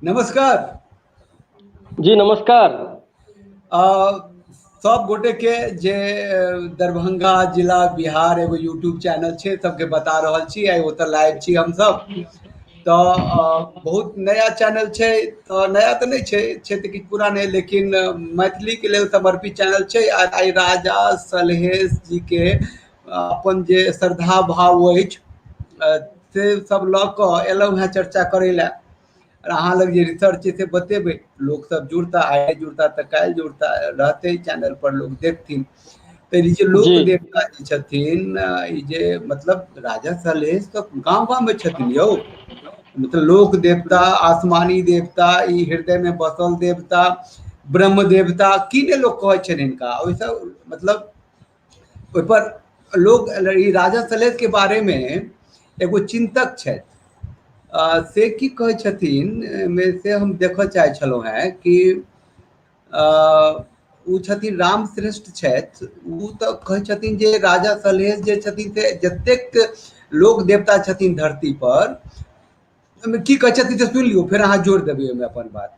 नमस्कार जी नमस्कार आ सब गोटे के जे दरभंगा जिला बिहार एगो यूट्यूब चैनल छै सबके बता रहल छी आइ ओतऽ लाइव छी हम सब तो बहुत नया चैनल छै तो नया तो नहीं छै छै तो किछु पुरान है लेकिन मैथिली के लेल समर्पित चैनल छै आ आइ राजा सलहेश जी के अपन जे श्रद्धा भाव अछि से सब लऽ कऽ एलहुँ हेँ चर्चा करै लए अहाँ लग जे रिसर्च छै से बतेबै लोक सब जुड़ता आइ जुड़ता तऽ काल्हि जुड़ता रहतै चैनल पर लोक देखथिन तऽ ई जे लोक देवता जे छथिन ई जे मतलब राजा सलेश तऽ गाँव गाँव मे छथिन यौ मतलब लोक देवता आसमानी देवता ई हृदय मे बसल देवता ब्रह्म देवता की ने लोक कहै छनि हिनका ओहिसँ मतलब ओहिपर लोक ई राजा सलेशके बारेमे एगो चिन्तक छथि से की कहै छथिन एहिमे से हम देखऽ चाहै छलहुँ हेँ कि ओ छथिन राम श्रेष्ठ छथि ओ तऽ कहै छथिन जे राजा सलहेश जे छथिन से जतेक लोक देवता छथिन धरती पर ओहिमे की कहै छथिन से सुनि लियौ फेर अहाँ जोड़ देबै ओहिमे अपन बात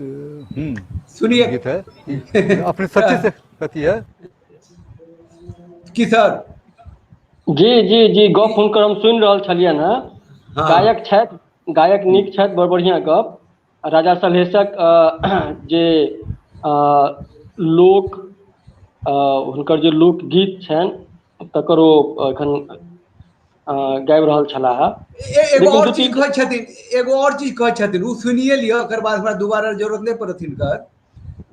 हम्म, सुनिए गीत है अपने सच्चे से कथी है की सर जी जी जी गप हुनकर हम सुनि रहल छलियनि हेँ हाँ। गायक छथि गायक नीक छथि बड़ बढ़िआँ गप आ राजा सलहेशक अ, जे अ, लोक अ, हुनकर जे लोकगीत छनि तकर ओ एखन अ गाबि रहल छलाह हे एगो लेकिन आओर दू चीज तीन कहै छथिन एगो आओर चीज कहै छथिन ओ सुनिए लिअ ओकर बाद हमरा दुबारा जरूरत नहि पड़त हिनकर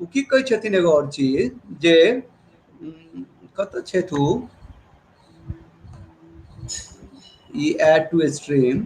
ओ की कहै छथिन एगो आओर चीज जे कतऽ छथि ओ ई एड टू स्ट्रीम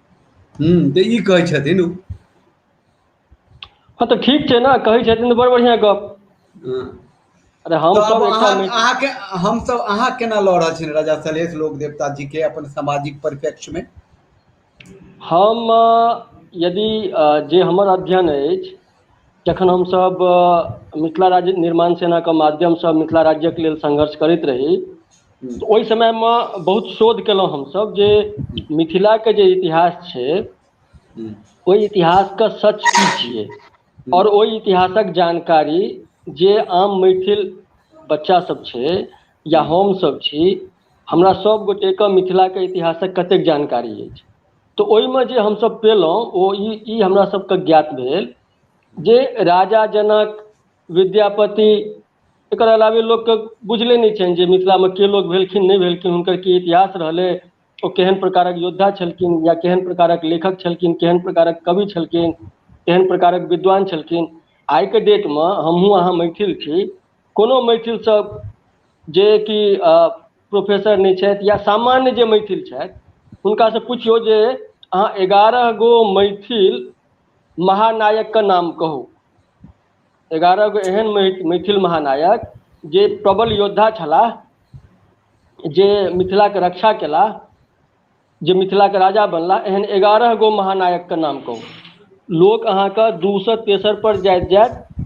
तऽ ई कहै छथिन हँ तऽ ठीक छै ने कहै छथिन तऽ बड़ बढ़िआँ गप हँ अरे तऽ आब हमसभ एकटा अहाँ मि अहाँके हमसभ अहाँ केना लऽ रहल छियनि राजा सलहेश लोक देवता जी के अपन सामाजिक परिप्रेक्ष्य मे हम यदि जे हमर अध्ययन अछि जखन हमसभ मिथिला राज्य निर्माण सेनाके माध्यमसँ मिथिला राज्यक लेल संघर्ष करैत रही हूँ तऽ ओहि समयमे बहुत शोध केलहुँ हमसभ जे हूँ मिथिलाके जे इतिहास छै हूँ ओहि इतिहासके सच की छियै आओर हूँ ओहि इतिहासक जानकारी जे आम मैथिल बच्चा सब छै या हूँ हम सब छी हमरा हूँ सब गोटे के मिथिला के इतिहासक कतेक जानकारी अछि तऽ ओहिमे जे हमसभ पयलहुँ ओ ई ई हमरासभके ज्ञात भेल जे राजा जनक विद्यापति एकर अलावे लोकके बुझले नहि छनि जे मिथिलामे के लोक भेलखिन नहि भेलखिन हुनकर की इतिहास रहलै ओ केहन प्रकारक योद्धा छलखिन या केहन प्रकारक लेखक छलखिन केहन प्रकारक कवि छलखिन केहन प्रकारक विद्वान छलखिन आइके डेटमे हमहूँ अहाँ मैथिल छी कोनो मैथिलसँ जे कि प्रोफेसर नहि छथि या सामान्य जे मैथिल छथि हुनकासँ पुछियौ जे अहाँ एगारह गो मैथिल महानायकके नाम कहू एगारह गो एहन मैथिल महानायक जे प्रबल योद्धा छलाह जे मिथिलाके रक्षा केलाह जे मिथिलाके राजा बनला एहन एगारह गो महानायकके नाम कहू लोक अहाँके दू सए तेसर पर जाइत जाइत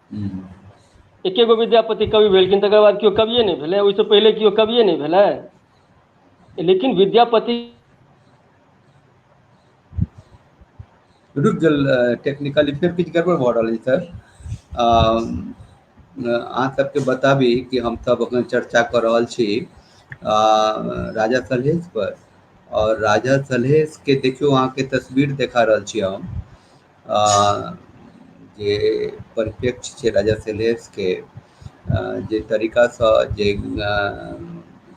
हूँ एके गो विद्यापति कवि भेलखिन तकर बाद केओ कविए नहि भेलै ओहिसँ पहिले केओ कविए नहि भेलै लेकिन विद्यापति रुकि गेल रहै टेक्निकली फेर किछु गड़बड़ भऽ रहल अछि सर आ अहाँ सबके बताबी कि हमसभ अखन चर्चा कऽ रहल छी आ राजा सलहेस पर आओर राजा सलहेस के देखियौ अहाँके तस्वीर देखा रहल छी हम जे परिप्रेक्ष्य छै राजा सेलेब्सके जे तरीकासँ जे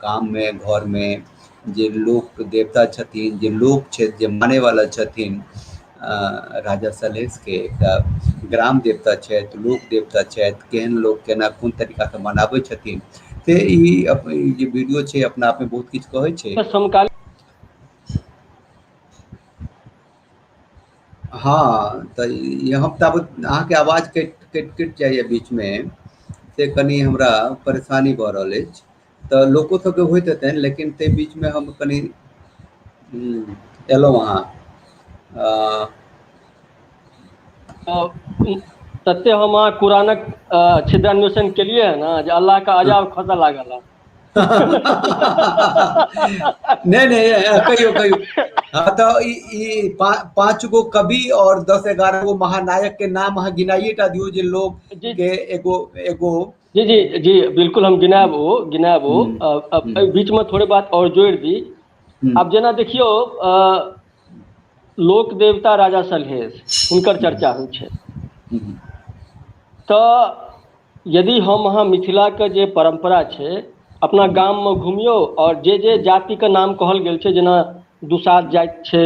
गाममे घरमे जे लोक देवता छथिन जे लोक छथि जे मानयवला छथिन राजा सलहेशके एकटा ग्राम देवता छथि लोक देवता छथि केहन लोक केना कोन तरीकासँ मनाबै छथिन से ई जे वीडियो छै अपना आपमे बहुत किछु कहै छै समकालीन हँ तऽ यहाँ तब अहाँके आवाज कटि कटि कटि जाइए बीचमे से कनि हमरा परेशानी भऽ रहल अछि तऽ लोको सभके होइत हेतनि लेकिन ताहि बीचमे हम कनि हम्म, एलहुँ अहाँ अ, तऽ ई तते हम अहाँ कुरानक छिद्रान्वेषण केलियै ह ने जे अल्लाह के अजाब खसय लागल हँ नहीं नहीं कहियो कहियो हाँ, तो ई ई पा, पांच गो कवि और दस ग्यारह गो महानायक के नाम हाँ गिनाइए टा दियो जे लोग जी। के एगो एगो जी जी जी बिल्कुल हम गिनाब हो गिनाब हो हम्म, अ- अ- हम्म। एहि बीच में थोड़े बात और जोड़ दी हम्म, अब जेना देखियो अ, लोक देवता राजा सलहेश हुनकर चर्चा होइ छै हम्म, तऽ यदि हम अहाँ मिथिलाके जे परम्परा छै अपना गाममे घुमियौ आओर जे जे जातिके नाम कहल गेल छै जेना दुसाध जाति छै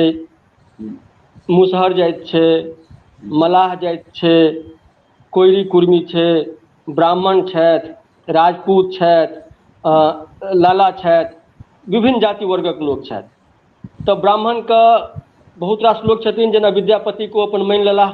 मुसहर जाति छै मलाह जाति छै कोइरी कुर्मी छै ब्राह्मण छथि राजपूत छथि आ लाला छथि विभिन्न जाति वर्गक लोक छथि तऽ ब्राह्मणके बहुत रास लोक छथिन जेना विद्यापतिक ओ अपन मानि लेलाह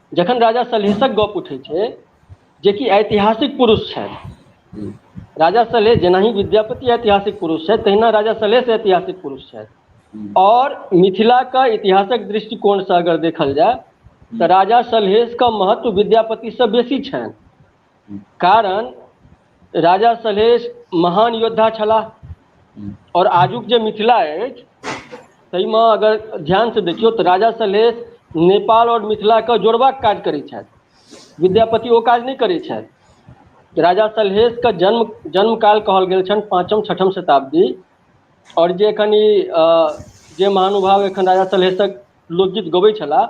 जखन राजा सलहेशक गप उठै छै जेकि ऐतिहासिक पुरुष छथि राजा सलहेश जेनाही विद्यापति ऐतिहासिक पुरुष छथि तहिना राजा सलहेश ऐतिहासिक पुरुष छथि आओर मिथिलाके इतिहासक दृष्टिकोणसँ अगर देखल जाय तऽ राजा सलहेशके महत्व विद्यापतिसँ बेसी छनि कारण राजा सलहेश महान योद्धा छलाह आओर आजुक जे मिथिला अछि ताहिमे अगर ध्यानसँ देखियौ तऽ राजा सलहेश नेपाल आओर मिथिलाके जोड़बाक काज करैत छथि विद्यापति ओ काज नहि करैत छथि राजा सलहेशके जन्म जन्म काल कहल गेल छनि पाँचम छठम शताब्दी आओर जे एखन ई जे महानुभाव एखन राजा सलहेशक लोकगीत गबै छलाह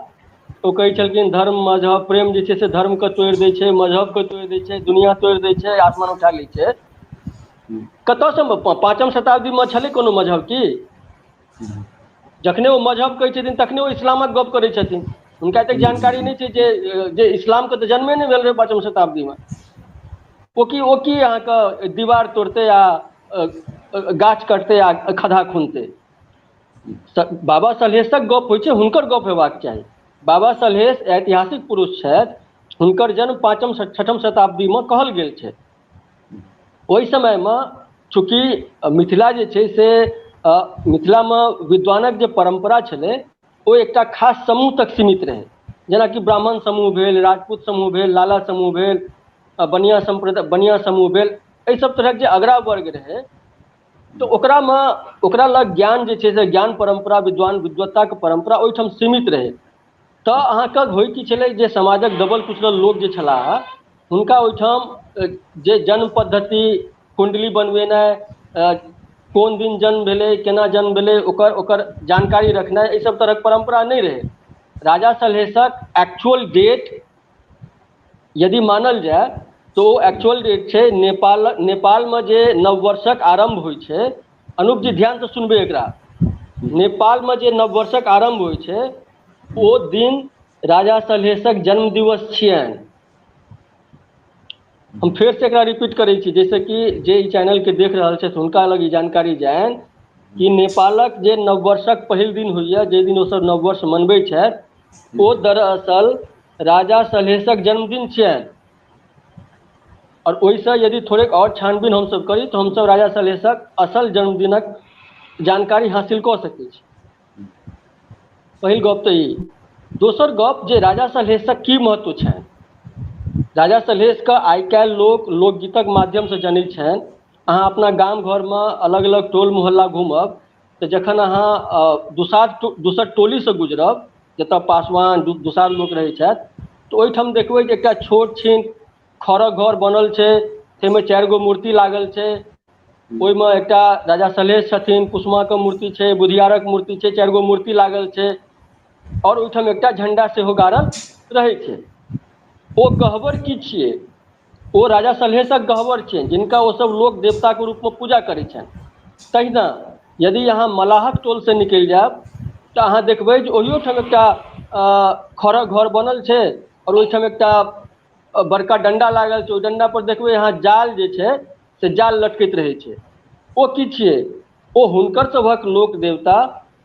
ओ कहै हूँ छलखिन धर्म मजहब प्रेम जे छै से धर्म के तोड़ि दै छै मजहब के तोड़ि दै छै दुनिया तोड़ दै छै आसमान उठा लै छै हूँ कतयसँ मे पाँचम शताब्दीमे छलै कोनो मजहब की हूँ जखने ओ मजहब कहै छथिन तखने ओ इस्लामक गप्प करै छथिन हुनका एतेक हूँ जानकारी हूँ नहि छै जे जे इस्लामके तऽ जन्मे नहि भेल रहै पाँचम शताब्दीमे ओ की ओ की अहाँके दीवार तोड़तै आ गाछ कटतै आ खदहा खुनतै बाबा सलहेशक गप होइ छै हुनकर गप होयबाक चाही बाबा सलहेश ऐतिहासिक पुरुष छथि हुनकर जन्म पाँचम छठम शताब्दीमे कहल गेल छै ओहि समयमे चूँकि मिथिला जे छै से मिथिलामे विद्वानक जे परम्परा छलै ओ एकटा खास समूह तक सीमित रहै जेनाकि ब्राह्मण समूह भेल राजपूत समूह भेल लाला समूह भेल बनिया समूह भेल एहि सभ तरहक जे अगड़ा वर्ग रहै तऽ ओकरामे ओकरा लग ज्ञान जे छै से ज्ञान परम्परा विद्वान विद्वत्ताके परम्परा ओहिठाम सीमित रहै तऽ अहाँके होय की छलै जे समाजक दबल कुचलल लोक जे छलाह हुनका ओहिठाम जे जन्म पद्धति कुण्डली बनबेनाइ अ कोन दिन जन्म भेलै केना जन्म भेलै ओकर ओकर जानकारी रखनाइ एहि सब तरहक परम्परा नहि रहै राजा सलहेशक एक्चुअल डेट यदि मानल जाय तऽ ओ एक्चुअल जे छै नेपाल नेपालमे जे नववर्षक आरम्भ होइ छै अनुप जी ध्यान से सुनबै एकरा नेपाल मे जे नव वर्षक आरम्भ होइ छै ओ दिन राजा सलहेशक जन्म दिवस छियैन हम फेर से एकरा रिपीट करै छी जैस कि जे ई चैनल के देख रहल छैथ हुनका लग ई जानकारी जाइन कि नेपालक जे नववर्षक पहिल दिन होइए जाहि दिन ओसभ नववर्ष मनबै छैथ ओ दरअसल राजा सलहेशक जन्मदिन छियैन आओर ओहिसँ यदि थोड़ेक आओर छानबीन हमसभ करी तऽ हमसभ राजा सलहेशक असल जन्मदिनक जानकारी हासिल कऽ सकै छी पहिल गप तऽ ई दोसर गप जे राजा सलहेशक की महत्व छनि राजा सलहेशके आइ काल्हि लोक लोकगीतक माध्यमसँ जनैत छनि अहाँ अपना गाम घरमे अलग अलग टोल मोहल्ला घूमब तऽ जखन अहाँ दुसाध दोसर टोलीसँ गुजरब जतय पासवान दुसाध लोक रहै छथि तऽ ओहिठाम देखबै जे एकटा छोट छिन खरक घर बनल छै ताहिमे चारि गो मूर्ति लागल छै ओहिमे एकटा राजा सलहेश छथिन कुसुमा के मूर्ति छै बुधियारक मूर्ति छै चारि गो मूर्ति लागल छै आओर ओहिठाम एकटा झण्डा सेहो गाड़ल रहै छै ओ गहबर की छियै ओ राजा सलहेशक गहवर छियनि जिनका ओसभ लोक देवताक रूपमे पूजा करैत छनि तहिना यदि अहाँ मलाहक टोलसँ निकलि जायब तऽ अहाँ देखबै जे ओहियो ठाम एकटा अ खरक घर बनल छै आओर ओहिठाम एकटा बड़का डंडा लागल छै ओहि डंडा पर देखबै अहाँ जाल जे छै से जाल लटकैत रहै छै ओ की छियै ओ हुनकर सभक लोक देवता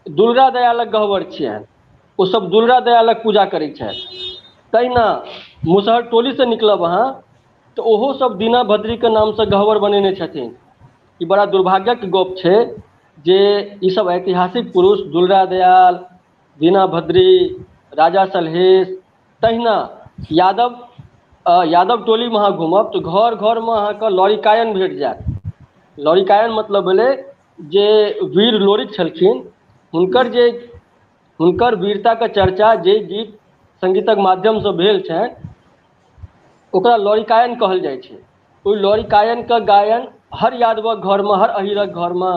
दुर्गा दयालक गहबर छियनि ओ सब दुर्गा दयालक पूजा करै छथि तहिना मुसहर टोली से निकलब अहाँ तऽ ओहो सब दीना भद्री के नाम से गहबर बनेने छथिन ई बड़ा दुर्भाग्यक गप छै जे ई सब ऐतिहासिक पुरुष दुलरा दयाल दीना भद्री राजा सलहेश तहिना यादव आ यादव टोली मे अहाँ घूमब तऽ घर घर मे अहाँके लॉरिकायन भेट जायत लॉरिकायन मतलब भेलै जे वीर लोरिक छलखिन हुनकर जे हुनकर वीरताके चर्चा जे गीत संगीतक माध्यमसँ भेल छनि ओकरा लौरिकायन कहल जाइ छै ओहि लौरिकायनके गायन हर यादवक घरमे हर अहीरक घरमे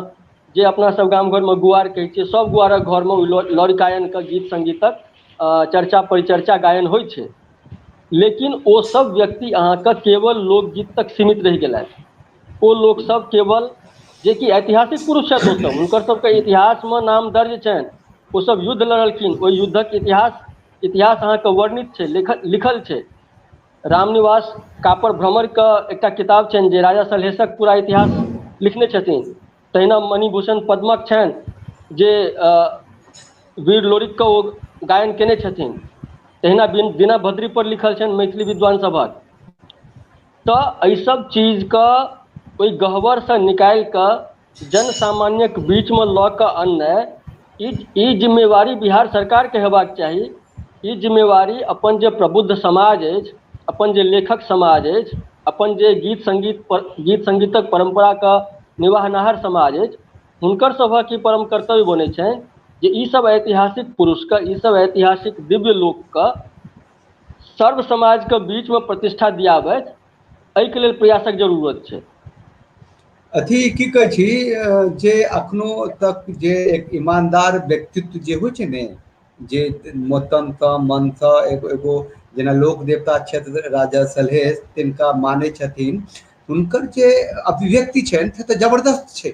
जे अपना सब गाम घरमे गुआर कहै छियै सब गुआरक घरमे ओहि लौ- लौरिकायनके गीत संगीतक अ, चर्चा परिचर्चा गायन होइ छै लेकिन ओ सब व्यक्ति अहाँके केवल लोकगीत तक सीमित रहि गेलथि ओ लोकसभ केवल जेकि ऐतिहासिक पुरुष छथि ओ सब हुनकर सबके इतिहास मे नाम दर्ज छनि ओ सब युद्ध लड़लखिन ओहि युद्धक इतिहास इतिहास अहाँके वर्णित छै लिखल लिखल छै रामनिवास कापर भ्रमर क एकटा किताब छनि जे राजा सलहेशक पूरा इतिहास लिखने छथिन तहिना मणिभूषण पद्मक छनि जे अ वीर लोरिक क ओ गायन कयने छथिन तहिना बिन बिना भद्री पर लिखल छनि मैथिली विद्वान सभक तऽ एहिसभ चीजके ओहि गह्वरसँ निकालि कऽ जन सामान्यक बीचमे लऽ कऽ अननाइ ई ई जिम्मेवारी बिहार सरकारके हेबाक चाही ई जिम्मेवारी अपन जे प्रबुद्ध समाज अछि अपन जे लेखक समाज अछि अपन जे गीत संगीत पर गीत संगीतक परम्पराके निवाहनाहर समाज अछि हुनकर सभक ई परम कर्तव्य बनैत छनि जे ईसभ ऐतिहासिक पुरुषके ईसभ ऐतिहासिक दिव्य लोकके सर्व समाजके बीचमे प्रतिष्ठा दियाबैत एहिके लेल प्रयासक जरूरत छै अथी की कहै छी जे एखनो तक जे एक ईमानदार व्यक्तित्व जे होइ छै ने जे मतनसँ मनसँ एगो एगो जेना लोक देवता क्षेत्र राजा सलहेश तिनका मानै छथिन हुनकर जे अभिव्यक्ति छनि से तऽ जबरदस्त छै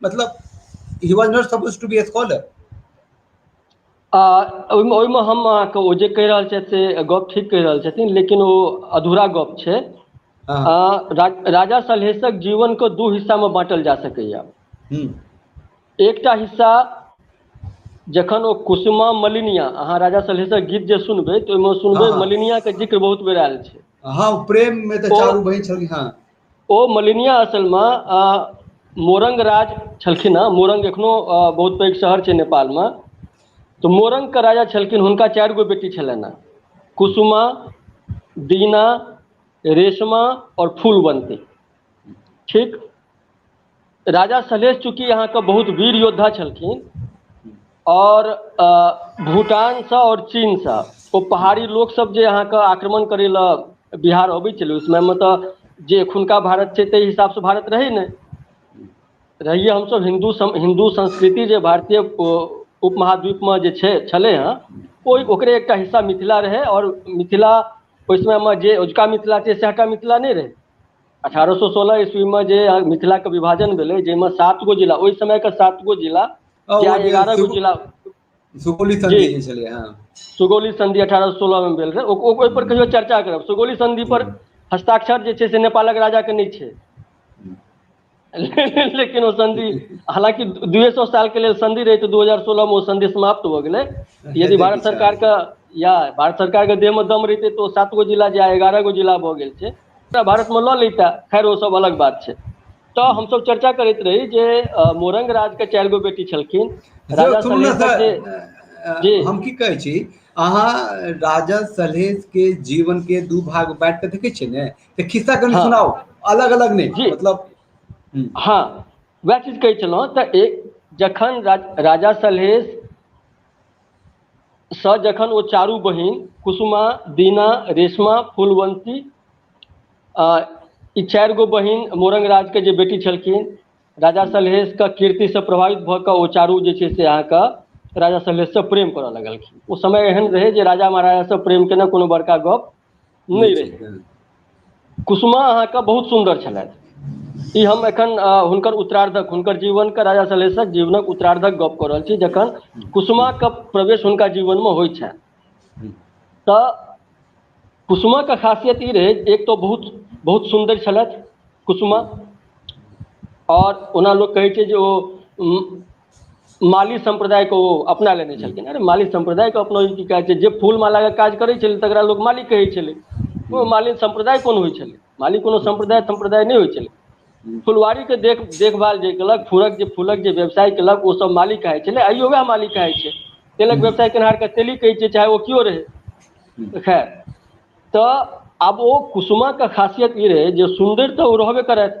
मतलब he was not suppose to be a scholar आ ओहिमे ओहिमे हम अहाँके ओ जे कहि रहल छथि से गप ठीक कहि रहल छथिन लेकिन ओ अधूरा गप छै हँ। आ रा, राजा सलहेशक जीवन के दू हिस्सा मे बाँटल जा सकैया हम्म, एकटा हिस्सा जखन ओ कुसुमा मलिनिया अहाँ राजा सलहेशक गीत जे सुनबै तऽ ओहिमे सुनबै हँ, हँ। मलिनिया के जिक्र बहुत बेर आयल छै हाँ प्रेम में तो ओ- चारू बहन छली हाँ ओ मलिनिया असलमे मोरंग राज छलखिन हेँ मोरंग एखनो बहुत पैघ शहर छै नेपालमे तऽ मोरंगके राजा छलखिन हुनका चारि गो बेटी छलनि हेँ कुसुमा दीना रेशमा आओर फूलवन्ती ठीक राजा सलहेश चूँकि अहाँके बहुत वीर योद्धा छलखिन आओर भूटानसँ आओर चीनसँ ओ पहाड़ी लोकसभ जे अहाँके आक्रमण करय लए बिहार अबैत छलै ओहि समयमे तऽ जे एखुनका भारत छै ताहि हिसाबसँ भारत रहै ने रहियै हमसभ हिन्दू हिन्दू संस्कृति जे भारतीय उपमहाद्वीपमे जे छै छलै हेँ ओ ओकरे एकटा हिस्सा मिथिला रहै आओर मिथिला ओहि समयमे जे अजुका मिथिला छै सएहटा मिथिला नहि रहै अठारह सए सोलह ईस्वी मे जे मिथिला के विभाजन भेलै जाहिमे सात गो जिला ओहि समय के सात गो जिला ओ जे आइ जे एगारह गो सुग- जिला सुगौली जी संधि जे छलै हँ सुगौली संधि अठारह सए सोलह मे भेल रहै ओ- ओ- ओहि पर कहियो चर्चा करब सुगौली संधि पर हस्ताक्षर जे छै से नेपालक राजा के नहि छै लेकिन ओ संधि हालाँकि दूए सए साल के लेल सधि रहै तऽ दू हजार सोलह मे ओ सधि समाप्त हो गेलै यदि हेतै भारत किछु सरकार के या भारत सरकार के देह मे दम रहीतै तऽ ओ सात गो जिला जे आइ एगारह गो जिला भऽ गेल छै पूरा भारत मे लऽ लैता खैर ओ सब अलग बात छै तऽ हमस चर्चा करैत रही जे मोरंग राज के चारि गो बेटी छलखिन यौ राजा सुनू ने सलहेशक जे जी तऽ हम की कहै छी अहाँ राजा सलहेश के जीवन के दू भाग बांटि कऽ देखै छियै ने तऽ खिस्सा कनि हँ सुनाउ अलग अलग नहि जी मतलब हूँ हँ उएह चीज कहै छलहुँ तऽ एक जखन रा राजा सलहेश सँ जखन ओ चारू बहिन कुसुमा दीना रेशमा फुलवन्ती आ ई चारि गो बहिन मौरंग राज के जे बेटी छलखिन राजा सलहेश के कीर्ति से प्रभावित भऽ कऽ ओ चारू जे छै से अहाँके राजा सलहेश सँ प्रेम करय लगलखिन ओ समय एहन रहै जे राजा महाराजा सँ प्रेम केनाइ कोनो बड़का गप्प नहि रहै कुसुमा अहाँके बहुत सुन्दर छलथि ई हम एखन हुनकर उत्तरार्धक हुनकर जीवन के राजा सलहेशक जीवनक उत्तरार्धक गप कऽ रहल छी जखन कुसुमा के प्रवेश हुनका जीवन मे होइ छनि तऽ कुसुमा के खासियत ई रहै एक तऽ बहुत बहुत सुन्दर छलथि कुसुमा आओर ओना लोक कहै छै जे ओ माली सम्प्रदाय के ओ अपना लेने जी छलखिन माली सम्प्रदाय के अपना की कहै छै जे फूल माला के काज करै छलै तकरा लोक मालिक कहै छलै ओ जी मालिन सम्प्रदाय कोन होइ छलै मालिक कोनो जी जी सम्प्रदाय सम्प्रदाय नहि होइ छलै जी फुलवारी के देख देखभाल जे केलक फूलक जे फूलक जे व्यवसाय केलक ओ सब मालिक कहाइ छलै आइयो वएह मालिक कहाइ छै तेलक जी व्यवसाय केनहार के तेली कहै छै चाहे ओ केओ रहै जी तऽ खैर तऽ आब ओ कुसुमा के खासियत ई रहै जे सुन्दर तऽ ओ रहबे करथि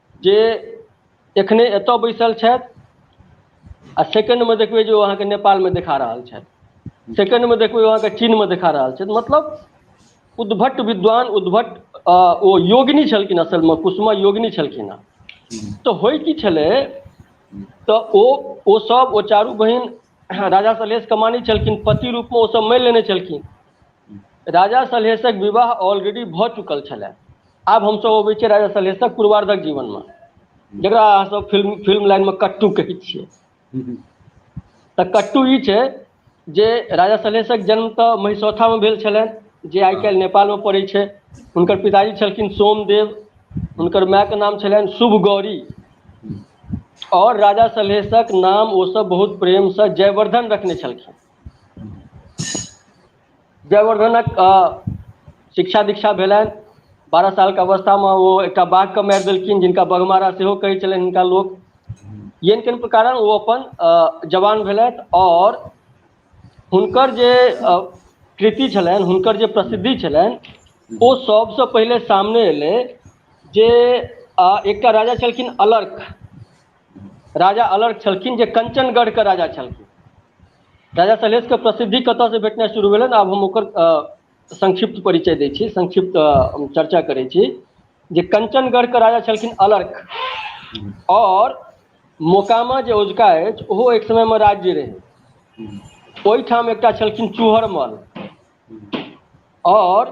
जे एखने एतय बैसल छथि आ सेकेण्डमे देखबै जे ओ अहाँके नेपालमे देखा रहल छथि सेकेण्डमे देखबै ओ अहाँके चीनमे देखा रहल छथि मतलब उद्भट विद्वान उद्भट अ, ओ योगिनी छलखिन असलमे कुसुमा योगिनी छलखिन हँ तऽ होइ की छलै तऽ ओ ओ सब ओ चारू बहिन राजा सलहेश कमानी छलखिन पति रूपमे ओ सब मानि लेने छलखिन राजा सलहेशक विवाह ऑलरेडी भऽ चुकल छलै आब हमसभ अबै छियै राजा सलहेशक पूर्वारधक जीवन मे जकरा अहाँ सब फिल्म फिल्म लाइन मे कट्टू कहै छियै तऽ कट्टू ई छै जे राजा सलहेशक जन्म तऽ महिसौथा मे भेल छलनि जे आइ काल्हि नेपाल मे पड़ै छै हुनकर पिताजी छलखिन सोमदेव हुनकर माय के नाम छलनि शुभ गौरी आओर राजा सलहेशक नाम ओसभ बहुत प्रेमसँ जयवर्धन रखने छलखिन जयवर्द्धनक शिक्षा दीक्षा भेलनि बारह सालके अवस्थामे ओ एकटा बाघके मारि देलखिन जिनका बघमारा सेहो कहै छलनि हिनका लोक यन किन प्रकार ओ अपन जवान भेलथि आओर हुनकर जे कृति छलनि हुनकर जे प्रसिद्धि छलनि ओ सभसँ पहिले सामने एलै जे एकटा राजा छलखिन अलर्क राजा अलर्क छलखिन जे कञ्चनगढ़के राजा छलखिन राजा सलहेश के प्रसिद्धि कतय से भेटनाइ शुरू भेलै ने आब हम ओकर संक्षिप्त परिचय दै छी संक्षिप्त चर्चा करै छी जे कञ्चनगढ़ के राजा छलखिन अलर्क आओर मोकामा जे ओझका अछि ओहो एक समय मे राज्य रहै ओहिठाम एकटा छलखिन चूहरमल आओर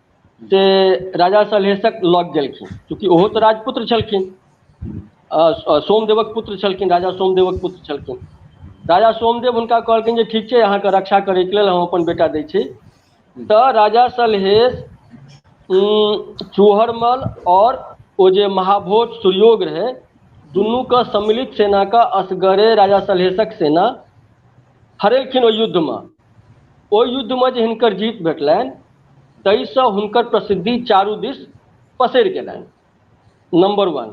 से राजा सलहेशक लग गेलखिन चूँकि ओहो तऽ राजपुत्र छलखिन सोमदेवक पुत्र छलखिन राजा सोमदेवक पुत्र छलखिन राजा सोमदेव हुनका कहलखिन जे ठीक छै अहाँके रक्षा करैके लेल हम अपन बेटा दै छी तऽ राजा सलहेश चूहरमल आओर ओ जे महाभोज सुयोग रहै दुनूके सम्मिलित सेनाके असगरे राजा सलहेशक सेना हरेलखिन ओहि युद्धमे ओहि युद्धमे जे हिनकर जीत भेटलनि ताहिसँ हुनकर प्रसिद्धि चारू दिस पसरि गेलनि नम्बर वन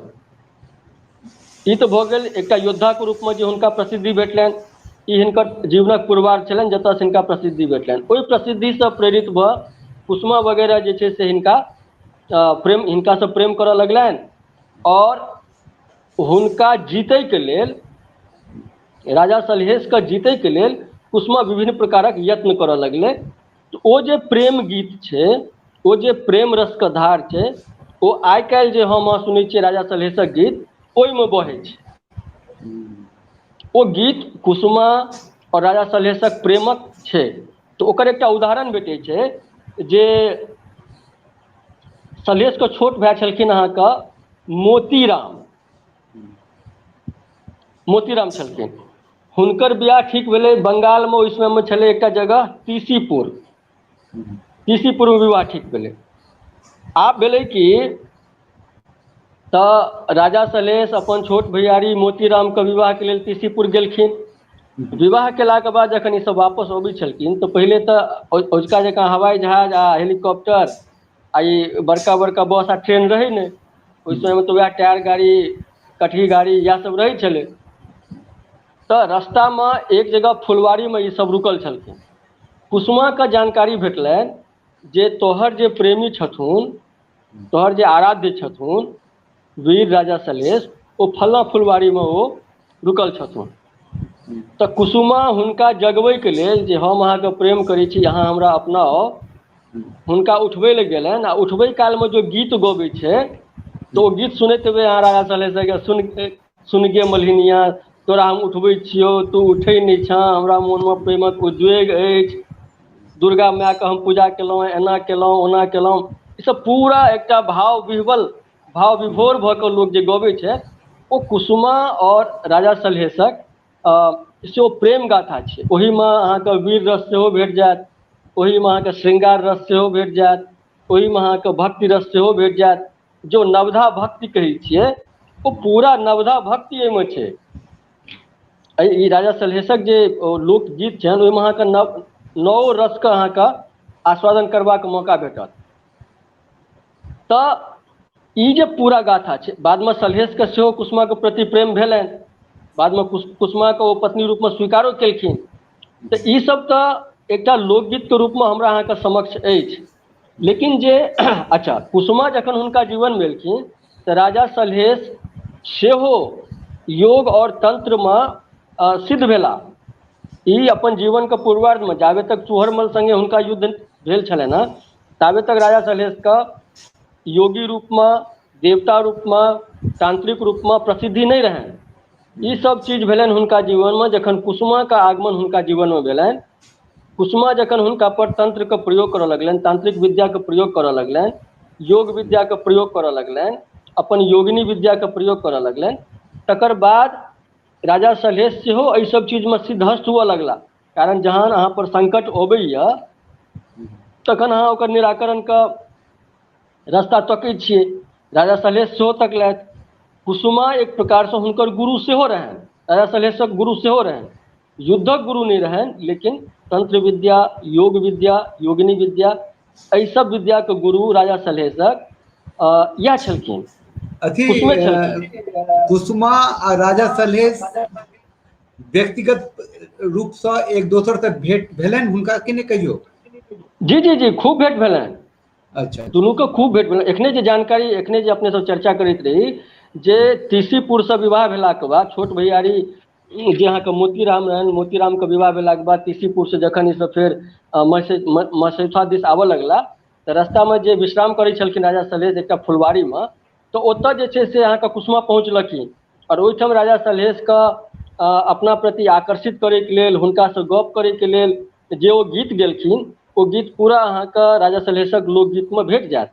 ई तऽ भऽ गेल एकटा योद्धाके रूपमे जे हुनका प्रसिद्धि भेटलनि ई हिनकर जीवनक पुरवार छलनि जतयसँ हिनका प्रसिद्धि भेटलनि ओहि प्रसिद्धिसँ प्रेरित भऽ कुसुमा वगैरह जे छै से हिनका प्रेम हिनकासँ प्रेम करय लगलनि आओर हुनका जीतैके लेल राजा सलहेशके जीतैके लेल कुसुमा विभिन्न प्रकारक यत्न करय लगलै तऽ ओ जे प्रेम गीत छै ओ जे प्रेम रसके धार छै ओ आइ काल्हि जे हम अहाँ सुनै छियै राजा सलहेशक गीत ओहिमे बहै छै ओ गीत कुसुमा आओर राजा सलहेशक प्रेमक छै तऽ ओकर एकटा उदाहरण भेटै छै जे सलहेशके छोट भाय छलखिन अहाँके मोतीराम मोतीराम छलखिन हुनकर बियाह ठीक भेलै बंगालमे ओहि समयमे छलै एकटा जगह तीसीपुर तीसीपुरमे विवाह ठीक भेलै आब भेलै कि तऽ राजा सलहेश अपन छोट भैयारी मोतीराम के विवाह के लेल किसीपुर गेलखिन विवाह केलाक के बाद जखन ई सब वापस अबै छलखिन तऽ पहिले तऽ अजुका जकाँ हवाई जहाज आ हेलीकॉप्टर आ ई बड़का बड़का बस आ ट्रेन रहै ने ओहि समय मे तऽ वएह टायर गाड़ी कटही गाड़ी इएह सब रहै छलै तऽ रस्ता मे एक जगह फुलवारी मे ई सब रुकल छलखिन कुसुमाक जानकारी भेटलनि जे तोहर जे प्रेमी छथुन तोहर जे आराध्य छथुन वीर राजा सलहेश ओ फलना फुलवारीमे ओ रुकल छथुन तऽ कुसुमा हुनका जगबैके लेल जे हम अहाँके प्रेम करै छी अहाँ हमरा अपना आउ हुनका उठबै लए गेलनि आ उठबै कालमे जे गीत गबै छै तऽ ओ गीत सुनैत हेबै अहाँ राजा सलहेशक सुनि सुनि गे मलिनिया तोरा हम उठबै छियौ तू उठै नहि छँ हमरा मोनमे प्रेमक उद्वेग अछि दुर्गा मायके हम पूजा केलहुँ एना केलहुँ ओना केलहुँ ईसभ पूरा एकटा भाव विह्वल भाव विभोर भऽ कऽ लोक जे गबैत छै ओ कुसुमा आओर राजा सलहेशक से ओ प्रेम गाथा छै ओहिमे अहाँके वीर रस सेहो भेट जायत ओहिमे अहाँके श्रृंगार रस सेहो भेट जायत ओहिमे अहाँके भक्ति रस सेहो भेट जायत जो नवधा भक्ति कहै छियै ओ पूरा नवधा भक्ति एहिमे छै अ ई राजा सलहेशक जे लोकगीत छनि ओहिमे अहाँके नव नओ रसके अहाँके आस्वादन करबाक मौका भेटत तऽ ई जे पूरा गाथा छै बादमे सलहेशके सेहो कुसुमाके प्रति प्रेम भेलनि बादमे कुस कुसुमाके ओ पत्नी रूपमे स्वीकारो केलखिन तऽ ईसभ तऽ एकटा लोकगीतके रूपमे हमरा अहाँके समक्ष अछि लेकिन जे अच्छा कुसुमा जखन हुनका जीवन मे एलखिन तऽ राजा सलहेश सेहो योग आओर तन्त्रमे सिद्ध भेलाह ई अपन जीवन के पूर्वार्ध मे जाबे तक चूहरमल संगे हुनका युद्ध भेल छलनि ह ताबे तक राजा सलहेश क योगी रूप मे देवता रूप मे तांत्रिक रूप मे प्रसिद्धि नहि रहैन ई सब चीज भेलनि हुनका जीवन मे जखन कुसुमा के आगमन हुनका जीवन मे भेलनि कुसुमा जखन हुनका पर तंत्र के प्रयोग करऽ लगलनि तांत्रिक विद्या के प्रयोग करऽ लगलनि योग विद्या के प्रयोग करऽ लगलनि अपन योगिनी विद्या के प्रयोग करऽ लगलनि तकर बाद राजा सलहेश सेहो एहि सब चीज मे सिद्धस्त हुअ लगला कारण जहन अहाँ पर संकट अबैया तखन अहाँ ओकर निराकरण क रस्ता तकै छियै राजा सलहेश सेहो तकलथि कुसुमा एक प्रकार सँ हुनकर गुरु सेहो रहनि राजा सलहेशक गुरु सेहो रहनि युद्धक गुरु नहि रहैन लेकिन तंत्र विद्या योग विद्या योगिनी विद्या एहि सब विद्या के गुरु राजा सलहेशक अ इएह छलखिन अथी कुसुमे छलखिन अ, कुसुमा आ राजा सलहेश व्यक्तिगत रूपसँ एक दोसर से भेंट भेलनि हुनका कि नहि कहियो जी जी जी खूब भेंट भेलनि अच्छा दुनू के खूब भेंट भेलनि एखने जे जानकारी एखने जे अपने सब चर्चा करैत रही जे तीसीपुर से विवाह भेलाक बाद छोट भैयारी जे अहाँके मोतीराम रहनि मोतीराम के विवाह भेलाके बाद किसीपुर से जखन ई सब फेर मसद म मसैथवा दिस आबऽ लगला तऽ रस्ता मे जे विश्राम करै छलखिन राजा सलहेश एकटा फुलवारी मे तऽ ओतऽ जे छै से अहाँके कुसुमा पहुँचलखिन आओर ओहिठाम राजा सलहेश क अ अपना प्रति आकर्षित करैके लेल हुनका सँ गप्प करैके लेल जे ओ गीत गेलखिन ओ गीत पूरा अहाँके राजा सलहेशक लोकगीत मे भेट जायत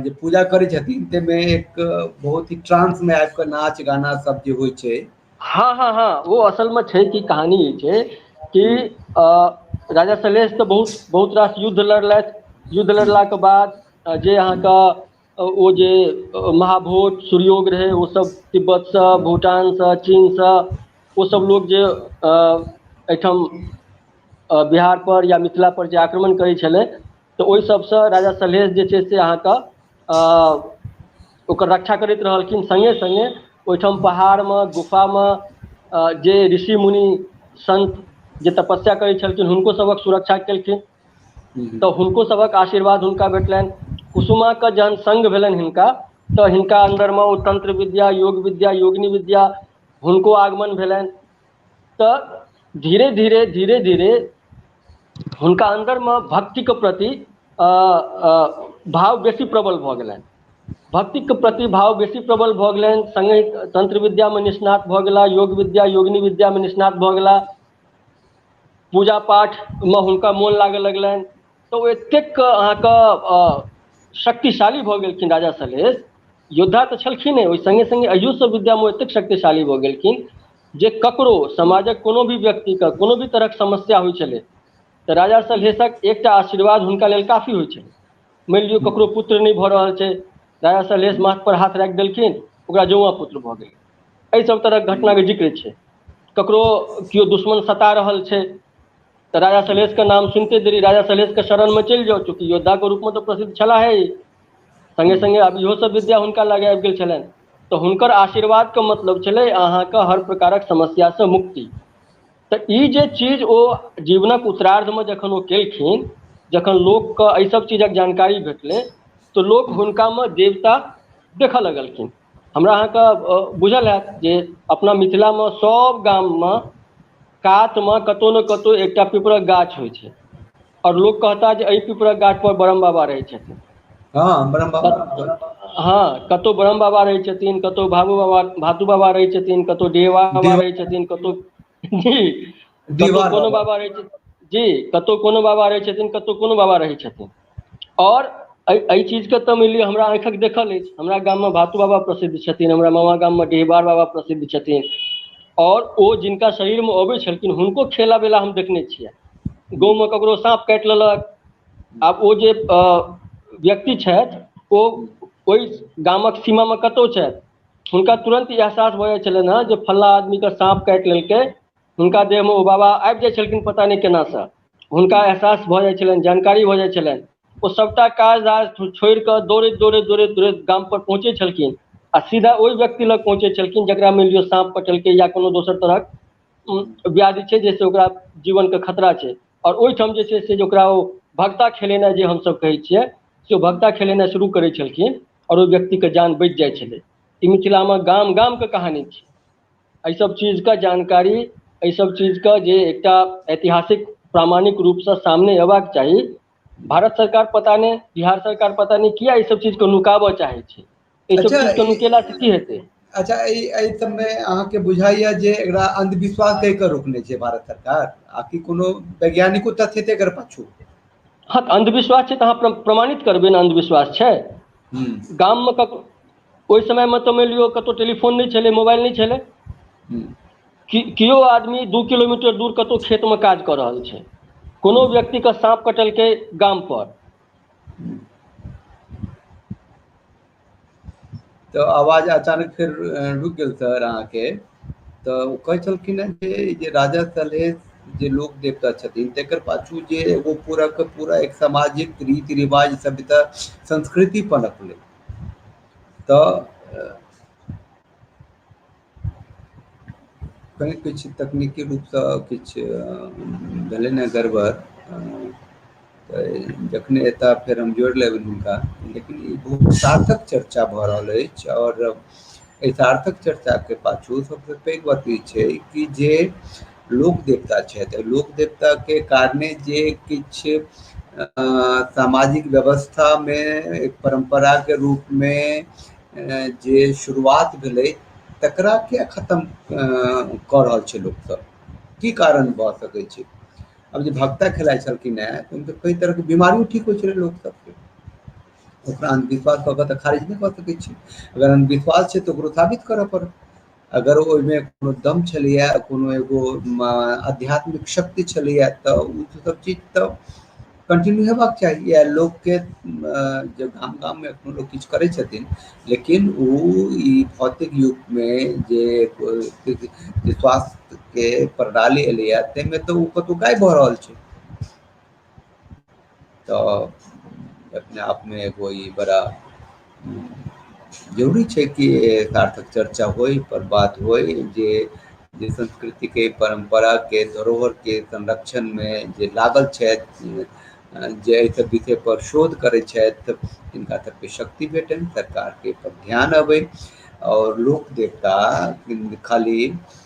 जे पूजा करै छथिन ताहिमे एक बहुत ही ट्रानंस मे आबि कऽ नाच गाना सब जे होइ छै हँ हँ हँ ओ असलमे छै कि कहानी ई छै कि हूँ अ राजा सलहेश तऽ बहुत बहुत रास युद्ध लड़लथि युद्ध हूँ लड़लाके बाद जे हूँ अहाँके ओ जे महाभोज सुर्योग रहै ओ सब तिब्बत से हूँ भूटान से चीन सँ ओ सब हूँ लोग जे अ एहिठाम बिहार पर या मिथिला पर जे आक्रमण करै छलै तऽ ओहि सभसँ राजा सलहेश जे छै से अहाँके अ ओकर रक्षा करैत रहलखिन संगे संगे ओहिठाम पहाड़मे गुफामे अ जे ऋषि मुनि संत जे तपस्या करै छलखिन हुनको सभक सुरक्षा केलखिन तऽ हुनको सभक आशीर्वाद हुनका भेटलैन कुसुमा के जहन संग भेलैन हिनका तऽ हिनका अन्दरमे ओ तंत्र विद्या योग विद्या योगिनी विद्या हुनको आगमन भेलैन तऽ धीरे धीरे धीरे धीरे हुनका अन्दरमे भक्तिके प्रति अ अ भाव बेसी प्रबल भऽ गेलनि भक्तिक प्रति भाव बेसी प्रबल भऽ गेलनि संगे तंत्र विद्या मे निष्णात भऽ गेला योग विद्या योगिनी विद्या मे निष्णात भऽ गेला पूजा पाठमे हुनका मोन लागय लगलनि तऽ ओ एतेक अहाँके अ शक्तिशाली भऽ गेलखिन राजा सलहेश योद्धा तऽ छलखिन हेँ ओहि सङ्गे सङ्गे अयोसँ विद्यामे एतेक शक्तिशाली भऽ गेलखिन जे ककरो समाजक कोनो भी व्यक्तिके कोनो भी तरहक समस्या होइ छलै तऽ राजा सलहेशक एकटा आशीर्वाद हुनका लेल काफी होइ छनि मानि लियौ ककरो पुत्र नहि भऽ रहल छै राजा सलहेश माथ पर हाथ राखि देलखिन ओकरा जौआ पुत्र भऽ गेलै एहि सभ तरहक घटनाके जिक्र छै ककरो केओ दुश्मन सता रहल छै तऽ राजा सलहेश के नाम सुनते देरी राजा सलहेश के शरण मे चलि जाउ चूँकि योद्धा के रूप मे तऽ प्रसिद्ध छलाह हे ई संगे संगे आब इहो सब विद्या हुनका लग आबि गेल छलनि तऽ हुनकर आशीर्वाद के मतलब छलै अहाँके हर प्रकारक समस्या सँ मुक्ति तऽ ई जे चीज ओ जीवनक उत्तरार्ध मे जखन ओ केलखिन जखन लोक के एहि सब चीजक जानकारी भेटलै तऽ लोक हुनका मे देवता देखऽ लगलखिन हमरा अहाँके बुझल हैत जे अपना मिथिलामे सभ गाममे कातमे कतहु ने कतहु एकटा पीपरक गाछ होइत छै आओर लोक कहता जे एहि पीपरक गाछ पर ब्रह्म बाबा रहैत छथिन हँ ब्रह्म बाबा हँ कतहु ब्रह्म बाबा रहैत छथिन कतहु बाबू बाबा भातु बाबा रहैत छथिन कतहु डिहबार बाबा रहैत छथिन कतहु जी कतहु कोनो बाबा रहै छै जी कतहु कोनो बाबा रहै छथिन कतहु कोनो बाबा रहै छथिन आओर एहि एहि चीजके तऽ मानि लिअ हमरा आँखिक देखल अछि हमरा गाममे भातू बाबा प्रसिद्ध छथिन हमरा मामा गाममे डिहबार बाबा प्रसिद्ध छथिन आओर ओ जिनका शरीरमे अबै छलखिन हुनको खेला बेला हम देखने छियै गाँवमे ककरो साँप काटि लेलक आब ओ जे व्यक्ति छथि ओ ओहि गामक सीमामे कतहु छथि हुनका तुरन्त ई एहसास भऽ जाइत छलनि हेँ जे फल्लाँ आदमीके साँप काटि लेलकै हुनका देहमे ओ बाबा आबि जाइत छलखिन पता नहि केनासँ हुनका एहसास भऽ जाइत छलनि जानकारी भऽ जाइत छलनि ओ सभटा काज राज छोड़ि कऽ दौड़ैत दौड़ैत दौड़ैत दौड़ैत गामपर पहुँचैत छलखिन आ सीधा ओहि व्यक्ति लग पहुँचैत छलखिन जकरा मानि लिअ साँप कटलकै या कोनो दोसर तरहक व्याधि छै जाहिसँ ओकरा जीवनके खतरा छै आओर ओहिठाम जे छै से ओकरा ओ भगता खेलेनाइ जे हमसभ कहैत छियै से भगता खेलेनाइ शुरू करैत छलखिन आओर ओहि व्यक्तिके जान बचि जाइ छलै ई मिथिलामे गाम गामके कहानी छी एहिसभ चीजके जानकारी एहिसभ चीजके जे एकटा ऐतिहासिक प्रामाणिक रूपसँ सामने अयबाक चाही भारत सरकार पता नहि बिहार सरकार पता नहि किया ई सब चीज के नुकाबऽ चाहै छै ई सब अच्छा, चीज के ई- नुकेला से की हेतै अच्छा ई एहि सबमे अहाँके बुझाइया जे एकरा अन्धविश्वास कहि कऽ रोकने छै भारत सरकार आ कि कोनो वैज्ञानिको तथ्य हेतै एकर पाछु हँ तऽ अन्धविश्वास छै तऽ अहाँ प्र प्रमाणित करबै ने अन्धविश्वास छै हूँ गाममे कक ओहि समयमे तऽ मानि लियौ कतहु टेलीफोन नहि छलै मोबाइल नहि छलै हूँ कि किओ आदमी दू किलोमीटर दूर कतौ खेतमे काज कऽ रहल छै कोनो व्यक्ति के साँप कटलकै गाम पर तऽ आवाज अचानक फेर रुकि गेल छल अहाँके तऽ ओ कहै छलखिन हेँ जे ई जे राजा सलहेश जे लोक देवता छथिन तकर पाछू जे एगो पूरा के पूरा एक सामाजिक रीति रिवाज सब तऽ संस्कृति पनपलै तऽ कनि किछु तकनीकी रूपसँ किछु भेलै ने गड़बड़ तऽ जखने एता फेर हम जोड़ि लेबनि हुनका लेकिन ई बहुत सार्थक चर्चा भऽ रहल अछि आओर एहि सार्थक चर्चाके पाछू सभसँ पैघ बात ई छै कि जे लोक देवता छथि लोक देवताके कारणे जे किछु अ, सामाजिक व्यवस्थामे एक परम्पराके रूपमे जे शुरुआत भेलै तकरा किया खतम कऽ रहल छै लोकसभ की कारण भऽ सकैत छै अब जे भक्ता खेलाइ छलखिन हेँ तऽ हुनकर कई तरहके बीमारियो ठीक होइ छलै लोक सबके ओकरा अंधविश्वास कऽ कऽ तऽ खारिज नहि कऽ सकैत छी अगर अंधविश्वास छै तऽ ओकरो साबित करऽ पड़त अगर ओहिमे कोनो दम छलैए कोनो एगो म, आध्यात्मिक शक्ति छलैए तऽ ओ सब चीज तऽ कंटिन्यू हेबाक चाही या लोकके अ, जे गाम गाममे एखनो लोक किछु करै छथिन लेकिन ओ ई भौतिक युगमे जे एगो जे स्वास्थ्यके प्रणाली एलैए ताहिमे तऽ ओ कतहु गायब भऽ रहल छै तो अपने आप में एगो ई बड़ा जरूरी छै कि सार्थक चर्चा होई पर बात होई जे जे संस्कृति के परंपरा के धरोहर के संरक्षण में जे लागल छथि जे एहि सब विषय पर शोध करै छथि तिनका सबके शक्ति भेटनि सरकार के पर ध्यान अबै और लोक देवता खाली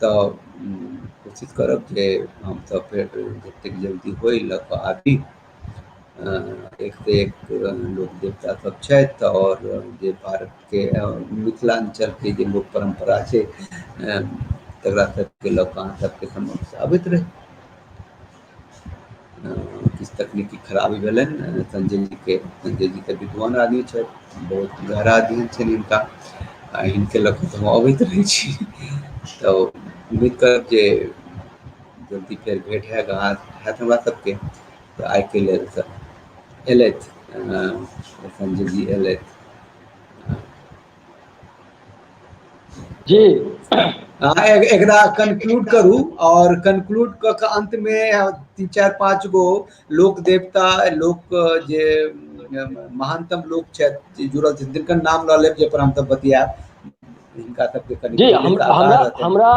तऽ कोशिश करब जे हमसभ फेर जतेक जल्दी होइ लऽ कऽ आबी एकसँ एक लोक देवता सभ छथि आओर जे भारतके मिथिलाञ्चलके जे लोक परम्परा छै तकरा सभके लऽ कऽ अहाँ सभके समक्ष आबैत रही किछु तकनीकी खराबी भेलै संजय जीके संजय जी तऽ विद्वान आदमी छथि बहुत गहरा अध्ययन छनि हिनका आ हिनके लऽ कऽ तऽ हम अबैत रहै छी तऽ उम्मीद करब जे जल्दी फेर भेट हैत अहाँ हैत हमरा सभके तऽ आइके लेल तऽ अयलथि संजय जी अयलथि जी अहाँ एकरा कन्क्लूड करू आओर कन्क्लूड कऽ कऽ अन्तमे तीन चारि पाँच गो लोक देवता लोक जे महानतम लोक छथि जे जुड़ल छथि तिनकर नाम लऽ लेब जाहिपर हमसभ बतियाएब हिनका सभके कनि जी हम- हमरा हमरा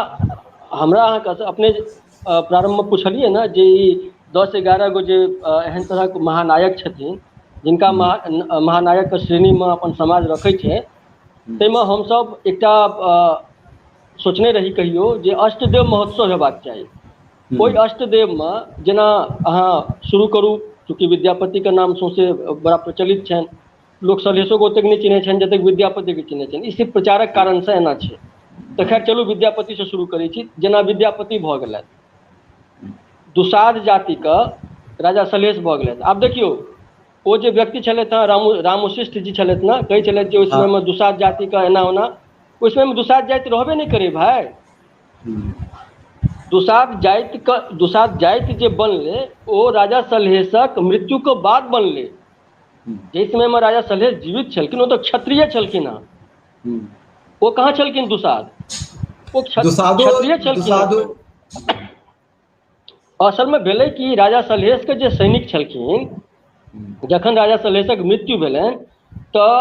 हमरा अहाँके अपने प्रारम्भमे पुछलियै ने जे ई दस एगारह गो जे एहन तरहक महानायक छथिन जिनका हूँ महा महानायकके श्रेणीमे अपन समाज रखै छै हूँ ताहिमे हमसभ एकटा सोचने रही कहियौ जे अष्टदेव महोत्सव हेबाक चाही हूँ ओहि अष्टदेवमे जेना अहाँ शुरू करू चूँकि विद्यापतिके नाम सौँसे बड़ा प्रचलित छनि लोक सलहेशो के ओतेक नहि चिन्है छनि जतेक विद्यापति के चिन्है छनि ई सिर्फ प्रचारक कारण सँ एना छै तऽ खैर चलू विद्यापति सँ शुरू करै छी जेना विद्यापति भऽ गेलथि दुसाध जाति क राजा सलहेश भऽ गेलथि आब देखियौ ओ जे व्यक्ति छलथि हेँ रामो रामो शिष्ट जी छलथि ने कहै छलथि जे ओहि हँ समय मे दुसाध जाति क एना ओना ओहि समय मे दुसाध जाति रहबे नहि करै भाय दुसाध जाति क दुसाध जाति जे बनलै ओ राजा सलहेशक मृत्यु क बाद बनलै हूँ जाहि समयमे राजा सलहेश जीवित छलखिन ओ तऽ क्षत्रिय छलखिन हेँ हूँ ओ कहाँ छलखिन दुसाध ओ दुसाधो क्षत्रिय छलखिन हेँ दुसाधो असलमे भेलै कि राजा सलहेशके जे सैनिक छलखिन हूँ जखन राजा सलहेशक मृत्यु भेलनि तऽ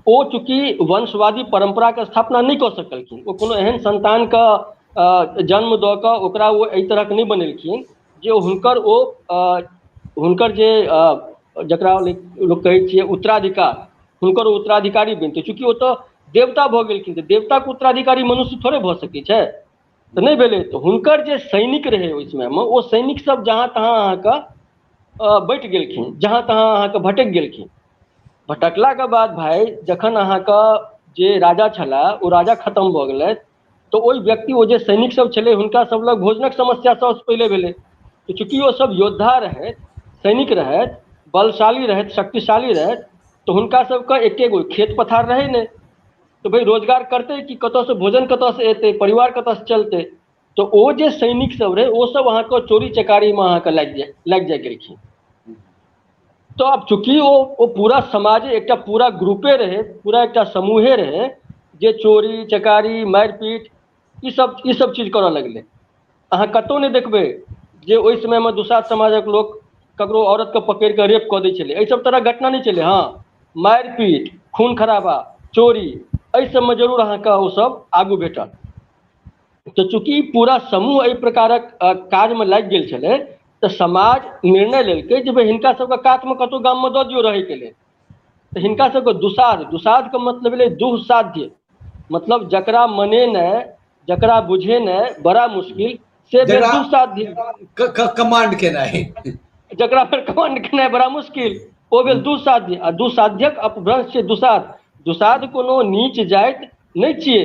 ओ चूँकि वंशवादी परम्पराके स्थापना नहि कऽ सकलखिन ओ कोनो एहन संन्तानके जन्म दऽ कऽ ओकरा ओ एहि तरहक नहि बनेलखिन जे हुनकर ओ हुनकर जे जकरा लोक कहै छियै उत्तराधिकार हुनकर उत्तराधिकारी बनतै चूँकि ओ तऽ देवता भऽ गेलखिन तऽ देवताके उत्तराधिकारी मनुष्य थोड़े भऽ सकै छै तऽ नहि भेलै तऽ हुनकर जे सैनिक रहै ओहि समयमे ओ सैनिकसभ जहाँ तहाँ अहाँके बैठ गेलखिन जहाँ तहाँ अहाँके भटकि गेलखिन भटकलाके बाद भाय जखन अहाँके जे राजा छलाह ओ राजा खतम भऽ गेलथि तऽ ओहि व्यक्ति ओ जे सैनिक सब छलै हुनका सब लग भोजनक समस्या सबसँ पहिले भेलै तऽ चूँकि ओ सब योद्धा रहथि सैनिक रहथि बलशाली रहथि शक्तिशाली रहथि तऽ हुनका सबके एके गो खेत पथार रहै ने तऽ भइ रोजगार करतै कि कतऽसँ भोजन कतऽसँ एतै परिवार कतऽसँ चलतै तऽ ओ जे सैनिक सब रहै ओ सब अहाँके चोरी चकारीमे अहाँके लागि जाइ लागि जाइ गेलखिन तऽ आब चूँकि ओ ओ पूरा समाज एकटा पूरा ग्रुपे रहै पूरा एकटा समूहे रहै जे चोरी चकारी मारि पीट ई सब ई सब चीज करऽ लगलै अहाँ कतहु नहि देखबै जे ओहि समयमे दुसाध समाजक लोक ककरो औरत के पकड़ि कऽ रेप कऽ दै छलै एहि सब तरहक घटना नहि छलै हँ मारि पीट खून खराबा चोरी एहि सभमे जरूर अहाँके ओसभ आगू भेटत तऽ चूँकि पूरा समूह एहि प्रकारक काजमे लागि गेल छलै तऽ समाज निर्णय लेलकै जे भाय हिनका सबके कातमे कतहु गाममे दऽ दियौ रहैके लेल तऽ हिनका सबके दुसाध दुसाधके मतलब भेलै दुःसाध्य मतलब जकरा मनेनाइ जकरा बुझेनाइ बड़ा मुश्किल से भेल जकरा दुःसाध्य क- क- कमांड केनाइ जकरा पर कमांड केनाइ बड़ा मुश्किल ओ भेल दुःसाध्य आ दुःसाध्यक अपभ्रंश छै दुसाध दुसाध कोनो नीच जाति नहि छियै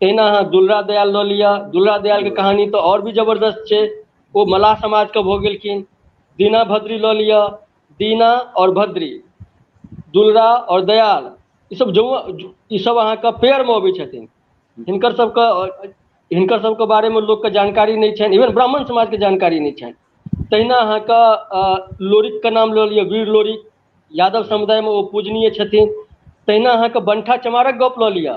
तहिना अहाँ दुलरा दयाल लऽ लिअ दुलरा दयाल के कहानी तऽ आओर भी जबरदस्त छै ओ मल्लाह समाज के भऽ गेलखिन दीना भद्री लऽ लिअ दीना आओर भद्री दुलरा आओर दयाल ई सब जो ई सब अहाँके पेयर मे अबै छथिन हिनकर सबके हिनकर सबके बारे मे लोक के जानकारी नहि छनि इवन ब्राह्मण समाज के जानकारी नहि छनि तहिना अहाँके लोरिक के नाम लऽ लिअ वीर लोरिक यादव समुदायमे ओ पूजनीय छथिन तहिना अहाँके बंठा चमारक गप लऽ लिअ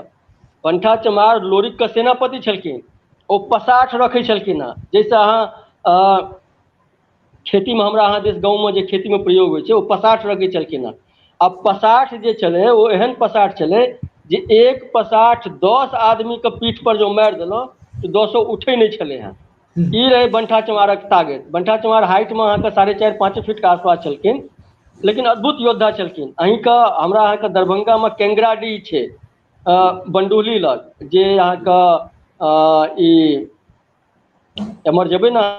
बंठा चमार लोरिक के सेनापति छलखिन ओ पसाठ रखै छलखिन हेँ जाहिसँ अहाँ अ, खेतीमे हमरा अहाँ दिस गाँवमे जे खेतीमे प्रयोग होइ छै ओ पसाठ रखै छलखिन हेँ आ पसाठ जे छलै ओ एहन पसाठ छलै जे एक पसाठ दस आदमीके पीठपर जँ मारि देलहुँ तऽ दसो उठै नहि छलै हेँ ई रहै बंठा चमारक तागैत बंठा चमार हाइट मे अहाँके साढ़े चारि पाँचे फीट के आसपास छलखिन लेकिन अद्भुत योद्धा छलखिन अहींके हमरा अहाँके दरभंगा मे केंगरा डीह छै अ बंडुली लग जे अहाँके अ ई एमहर जेबै ने अहाँ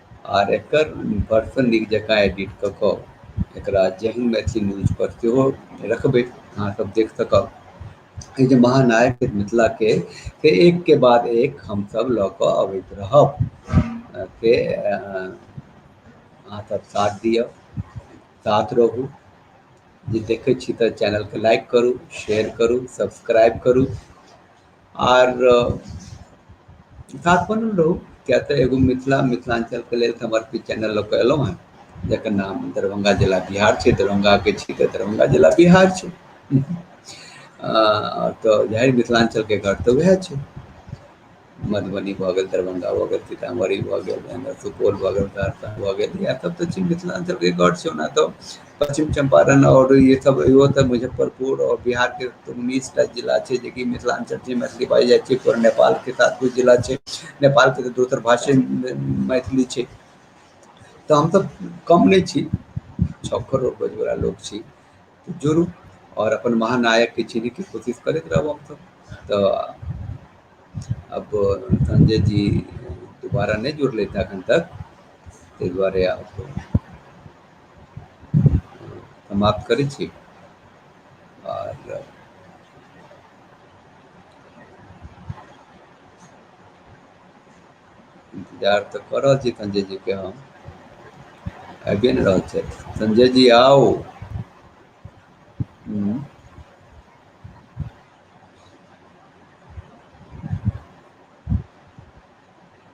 आर एकर बर्फ नीक जकाँ एडिट कऽ कऽ एकरा जेहन मैथिली न्यूज पर सेहो रखबै अहाँ सब देख सकब ई जे महानायक छैथ मिथिला के से एक के बाद एक हम सब लऽ कऽ अबैत रहब से अहाँ सब साथ दिअ साथ रहू जे देखै छी तऽ चैनल के लाइक करू शेयर करू सब्सक्राइब करू आर खास बनल रहू किए तऽ एगो मिथिला मिथिलाञ्चलके लेल समर्पित चैनल लऽ कऽ एलहुँ हेँ जकर नाम दरभंगा जिला बिहार छै दरभंगाके छी तऽ दरभंगा जिला बिहार छै आ तऽ इएह मिथिलाञ्चलके घर तऽ उएह छै मधुबनी भऽ गेल दरभंगा भऽ गेल सीतामढ़ी भऽ गेल सुपौल भऽ गेल सहरसा भऽ गेल इएह सभ तऽ छी मिथिलाञ्चलके गढ़ छै ओना तऽ पश्चिम चम्पारण आओर ई सब इहो तऽ मुजफ्फरपुर आओर बिहारके उन्नीस टा जिला छै जेकि मिथिलाञ्चल छै मैथिली बाजि जाइ छै आओर नेपालके साथ कुछ जिला छै नेपालके तऽ दोसर भाषे मैथिली छै तऽ हमसब कम नहि छी छओ करोड़ बजैवला लोक छी तऽ जोड़ू आओर अपन महानायकके चिन्हैके कोशिश करैत रहब हमसब तऽ अब संजय जी दुबारा नहि जुड़लै एखन तक ताहि दुआरे आब समाप्त करै छी आओर इन्तजार तऽ कऽ रहल छी संजय जी के हम आबिए नहि रहल छै संजय जी आउ हम्म,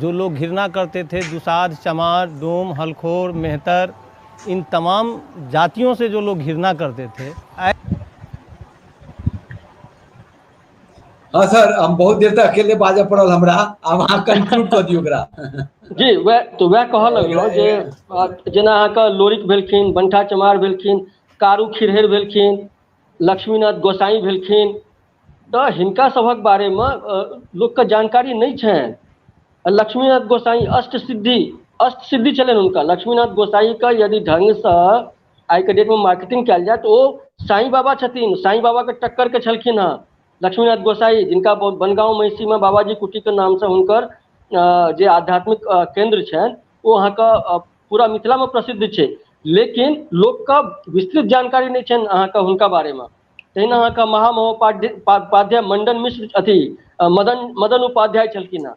जो लोग घृणा करते थे दुसाध चमार डोम हलखोर मेहतर इन तमाम जातियों से जो लोग घृणा करते थे हाँ सर हम बहुत देर तक अकेले बाजे पड़ल हमरा आब अहाँ कंक्लूड कऽ दियौ ओकरा जी वह तो वह कह लगियो जे आ, जेना अहाँके लोरिक भेलखिन बंठा चमार भेलखिन कारू खिरहरि भेलखिन लक्ष्मीनाथ गोसाई भेलखिन तऽ हिनका सभक बारेमे लोकके जानकारी नहि छनि आ लक्ष्मीनाथ गोसाई अष्ट सिद्धि अष्ट सिद्धि छलनि हुनका लक्ष्मीनाथ गोसाई के यदि ढंग सँ आइ के डेट मे मार्केटिंग कयल जाय तऽ ओ साईं बाबा छथिन साईं बाबा के टक्कर के छलखिन हेँ लक्ष्मीनाथ गोसाई जिनका बनगाँव महिषी मे बाबाजी कुटी के नाम से हुनकर जे आध्यात्मिक केन्द्र छनि ओ अहाँके पूरा मिथिला मे प्रसिद्ध छै लेकिन लोकके विस्तृत जानकारी नहि छनि अहाँके हुनका बारेमे तहिना अहाँके महामहोपाध्याय मण्डन मिश्र अथी मदन मदन उपाध्याय छलखिन हेँ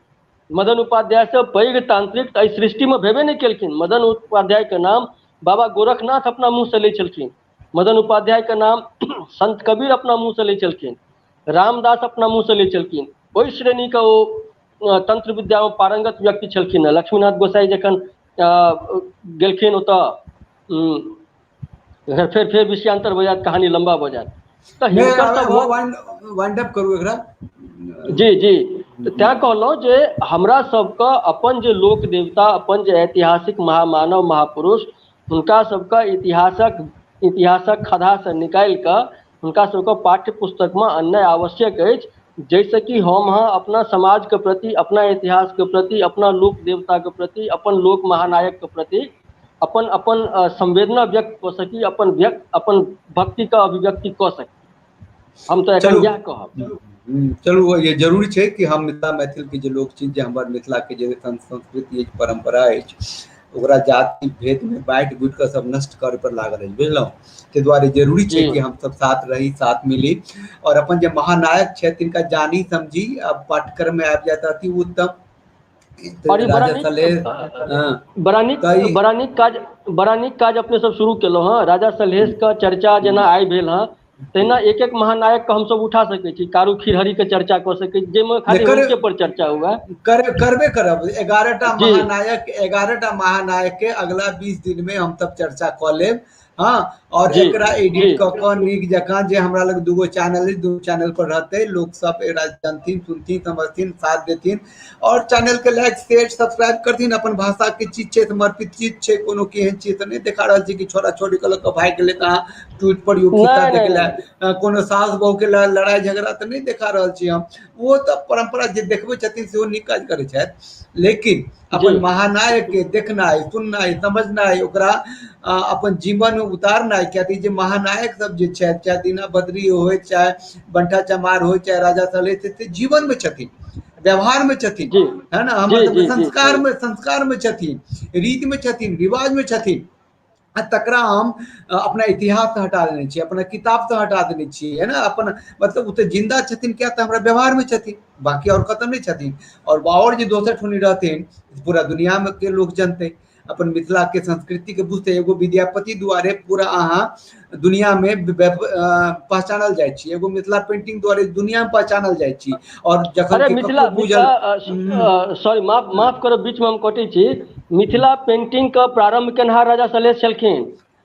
मदन उपाध्याय से पैघ तांत्रिक तऽ एहि सृष्टि मे भेबे नहि केलखिन मदन उपाध्याय के नाम बाबा गोरखनाथ अपना मुँह से लै छलखिन मदन उपाध्याय के नाम संत कबीर अपना मुँह से लै छलखिन रामदास अपना मुँह से लै छलखिन ओहि श्रेणी के ओ तंत्र विद्या मे पारंगत व्यक्ति छलखिन हेँ लक्ष्मीनाथ गोसाई जखन गेलखिन ओतऽ फेर फेर फेर विषयान्तर भऽ जायत कहानी लम्बा भऽ जायत तऽ नहि हिनकर आबे हो सभक वाइंड वाइंड अप करू एकरा जी जी तऽ तैं कहलहुँ जे हमरा सबके अपन जे लोक देवता अपन जे ऐतिहासिक महामानव महापुरुष हुनका सबके इतिहासक इतिहासक खदहासँ निकालि कऽ हुनका सबके पाठ्य पुस्तक मे अन्य आवश्यक अछि जाहिसँ कि हम अहाँ अपना समाजके प्रति अपना इतिहासके प्रति अपना लोक देवताके प्रति अपन लोक महानायक के प्रति अपन अपन संवेदना व्यक्त कऽ सकी अपन व्यक्त अपन भक्ति के अभिव्यक्ति कऽ सकी हम तऽ एखन इएह कहब चलू ये जरूरी छै कि हम मिथिला मैथिल के जे लोक छी जे हमर मिथिला के जे संस्कृति अछि परंपरा अछि ओकरा जाति भेद में बांट बुट के सब नष्ट करे पर लागल है बुझलहुँ के द्वारे जरूरी छै कि हम सब साथ रही साथ मिली और अपन जे महानायक छै तिनका जानी समझी अब पाठ्यक्रम में आबि जाता अति उत्तम और ये बड़ा राजा नीक- सलेह हाँ, बड़ा नीक कई- बड़ा नीक काज बड़ा नीक काज अपने सब शुरू केलहुँ हँ राजा सलहेश के चर्चा जेना आइ भेल हँ तहिना एक एक महानायक के हमसभ उठा सकैत छी कारू खिरहरी के चर्चा कऽ सकैत छी जाहिमे खाली एकर- हुनके पर चर्चा हुए कर, करबे करब एगारह टा जी। महानायक एगारह टा महानायक के अगला बीस दिन में हम तब चर्चा कऽ लेब हाँ और जी, एकरा जी। एडिट कऽ कऽ नीक जकाँ जे हमरा लग दूगो चैनल अछि दू चैनल पर रहतै लोक सब एकरा जानथिन सुनथिन समझथिन साथ देथिन और चैनल के लाइक शेयर सब्सक्राइब कर दिन अपन भाषा के चीज छे समर्पित चीज छे कोनो केहन चीज त नहीं देखा रहल छी कि छोरा छोरी के लग भाग गेले कहा ट्वीट पर योग्यता नहीं, देख नहीं, ले अ, कोनो सास बहू के ल- लड़ाई झगड़ा त नहीं देखा रहल छी हम वो तो परंपरा जे देखबे छथिन से वो नीक काज करे छथि लेकिन अपन जी। महानायक के देखनाइ सुननाइ समझनाइ ओकरा अ, अपन जीवन में उतारनाइ कियाकि जे महानायक सब जे छथि चाहे दीना बद्री होय चाहे बंठा चमार हो चाहे राजा सले थे, थे जीवन में छथिन व्यवहार में छथिन जी। है ना जी, हमर जी, जी, संस्कार जी। में संस्कार में छथिन रीत में छथिन रिवाज में छथिन आ तकरा हम अ, अपना इतिहास से हटा देने छियै अपना किताब से हटा देने छियै है ना अपन मतलब ओ तऽ जिंदा छथिन क्या तऽ हमरा व्यवहार में छथिन बाकी और कतौ नहीं छथिन और बाहर जे दोसर ठुनी रहथिन पूरा दुनिया में के लोग जनते अपन मिथिला के संस्कृति के बुझते एगो विद्यापति द्वारे पूरा अहाँ दुनिया में व्याप- अ, पहचानल जाय छी एगो मिथिला पेंटिंग द्वारे दुनिया में पहचानल जाय छी और जखन अरे कि मिथिला ककरो बुझल मिथिला सॉरी माफ माफ करब बीचमे हम कटै छी मिथिला पेंटिंग के प्रारंभ केनहार राजा सलहेश छलखिन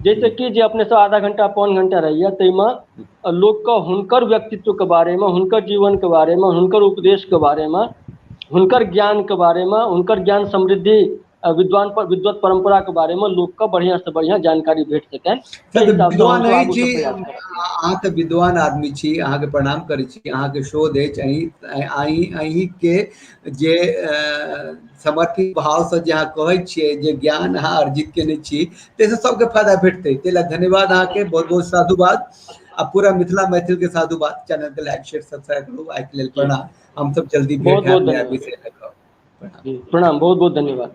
जैसे कि जे अपने सब आधा घंटा पौन घण्टा रहैया ताहिमे लोक के हुनकर व्यक्तित्व के बारे मे हुनकर जीवन के बारे मे हुनकर उपदेश के बारे मे हुनकर ज्ञान के बारे मे हुनकर ज्ञान समृद्धि आ विद्वान पर विद्वत परम्परा के बारे मे लोक के बढ़िया से बढ़िया जानकारी भेट सकैन ताहि हिसाब से विद्वान हुनको आगू अछि के प्रयास करैन। अहाँ तऽ विद्वान आदमी छी अहाँके प्रणाम करै छी अहाँके शोध अछि अहीं अहीं अहीं के जे समर्पित भावसँ जे अहाँ कहै छियै जे ज्ञान अहाँ अर्जित केने छी ताहिसँ सबके फायदा भेटतै ताहि लए धन्यवाद अहाँके बहुत बहुत साधुवाद आ पूरा मिथिला मैथिल के साधुवाद चैनल के लाइक शेयर सब्सक्राइब करू आइ के लेल प्रणाम हम सब जल्दी बहुत बहुत प्रणाम बहुत बहुत धन्यवाद